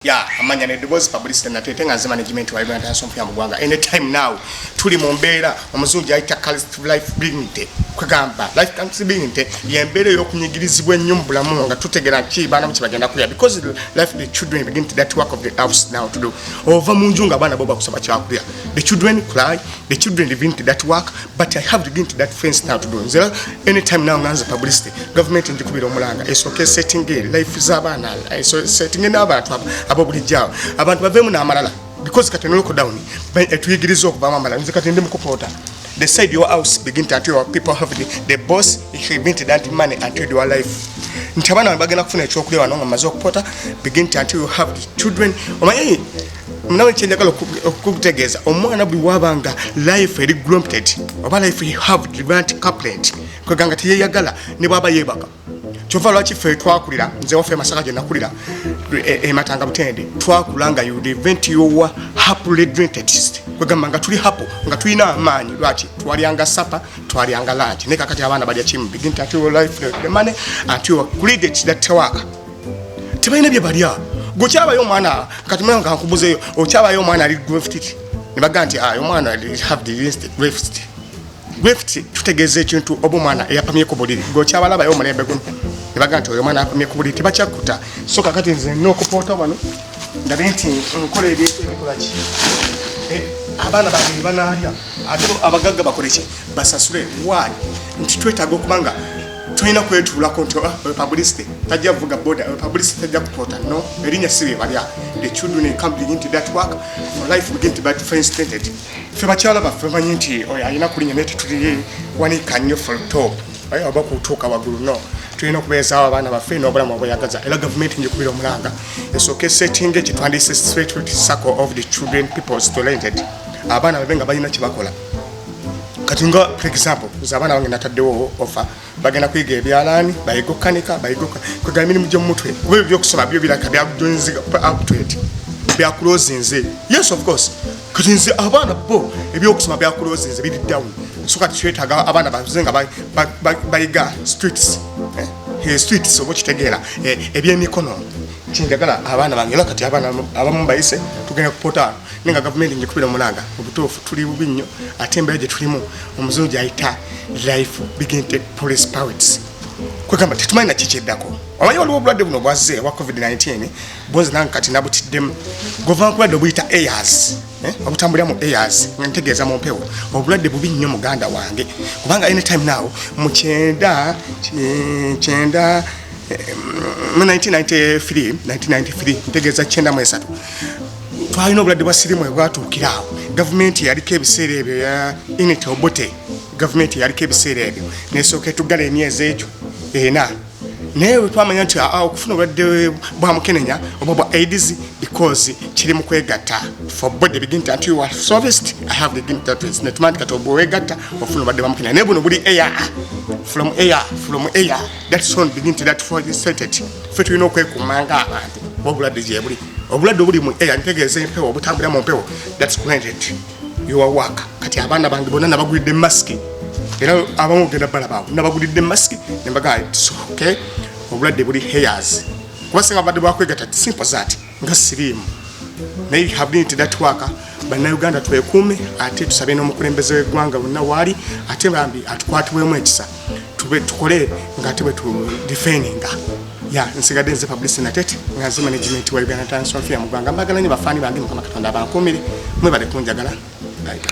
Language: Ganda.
ya amanya ne dobozi publicity na tete nganze management wa Uganda National Film Gwanga any time now tuli mu mbeera omuzungu ayita calist life dignity kugamba life comes dignity ye mbeera y'okunyigirizibwa ennyo mu bulamu nga tutegera ki baana mu kibagenda kulya because life the children begin to that work of the house now to do ova mu nju nga abaana bo bakusaba kyakulya the children cry the children didn't that work but i have didn't that fence now to do nzera anytime now nganze publicity government ndi kubira omulanga it's okay setting a life za bana so setting na abantu abo buli jao abantu bavemu na amalala because kati no lockdown by eh, tuyigirizo okuba mama nze kati ndi mukupota the side your house begin to your people have the, the boss he been to that money and to your life ntabana bagenda kufuna ekyokulya wano nga mazo kupota begin to you have the children omanyi nawe kyenjagala okukutegeeza omwana buli waba nga life eri grompted oba life have revant caplet kwega nga teyeyagala ne bwaba yebaka kyova lwaki ffe twakulira nze waffe masaka gye nakulira ematanga e butende twakula nga udevent yowa happily drintetist kwegamba nga tuli hapo nga tulina amaanyi lwaki twalyanga sapa twalyanga langi naye kakati abaana balya kimu begin to your life the money until you credit that work tebalina bye balya gwe kyabayo omwana kati mwana nga nkubuzeeyo okyabayo omwana ali greftit ne baga nti ayo ah, omwana have the instant greftit greftit tutegeeza ekintu oba omwana eyapamye ku buliri gwe okyabalabayo omulembe guno ne baga nti oyo omwana apamye ku buliri tebakyakuta so kakati nze nokupoota wano ndabe nti nkola ebintu ebikolaki eh, abaana bange bebanaalya ate abagagga bakoleki basasule waali nti twetaaga okubanga tulina kwetuulako nti ah, publicity tajja kuvuga boda publicity tajja kupoota no erinya si bebalya the children in come begin to that work for life begin to be friends tainted ffe bakyala baffe bamanyi nti oyo alina kulinya naye tetuli wanika nnyo for top aye oba kutuuka waggulu no tulina okubeezaawo abaana baffe n'obulamu obweyagaza era gavumenti njikubira omulanga esooka esettinga ekitwandise straight sacco of the children peoples talented abaana babe nga balina kye bakola kati nga for example nze abaana bange nataddewo ofa bagenda kuyiga ebyalaani bayiga okukanika bayiga kwegala emirimu gyomumutwe kuba ebyo byokusoma byo biraka byakujonziga uptwent byakulozinze yes of course kati nze abaana bo ebyokusoma byakulozinze biri down so kati kyetaga abaana baze nga bayiga streets eh, eh, streets oba okitegeera eh, ebyemikono kinjagala abaana bange era kati abaana abamu bayise tugenda kupota nenga gavumenti njikubira omulanga obutuufu tuli bubi nnyo ate embeera gye tulimu omuzungu gyayita life begin take police powers kwegamba tetumanyi na kikyeddako omanyi waliwo obulwadde buno bwazze obwa covid-19 bunzi nange kati nabutiddemu gova nkulwadde obuyita airs eh, obutambulira mu airs nga ntegeeza mu mpewo obulwadde bubi nnyo muganda wange kubanga anytime now mu kyenda kyenda eh, mu 1993 1993 ntegeeza kyenda mu esatu twalina obulwadde bwa sirimu ebwatuukira awo gavumenti yaliko ebiseera ebyo ya init obote gavumenti yaliko ebiseera ebyo nesooka etuggala emyezi egyo ena naye wetwamanya nti ah, okufuna obulwadde bwa mukenenya oba bwa aids because kiri mu kwegatta for body begin to until you are serviced i have begin to to ne tumandi kato boe gatta ofuna bade bamukina ne buno buli air from air from air that sound begin to that for the sentence fetu ino kwe kumanga abantu wabula dije buli obulwadde obuli mu air ntegeeza empewo obutambulira mu mpewo thats granted your work kati abaana bange bonna nabagulidde masiki era abamu ogenda balabaawo nabagulidde masiki nembagaa its okay obulwadde buli hairs kuba singa badde bwakwegata simple that nga siriimu naye you have need that work bannayuganda twekuume ate tusabe n'omukulembeze w'eggwanga bonna waali ate bambi atukwatiwemu ekisa tube tukole nga tube tu defending ya nsigadde nze publicity natete nga nze management wa uganda times of ya mugwanga mbagala nyo bafaani bange mukama katonda abankuumire mwebale kunjagala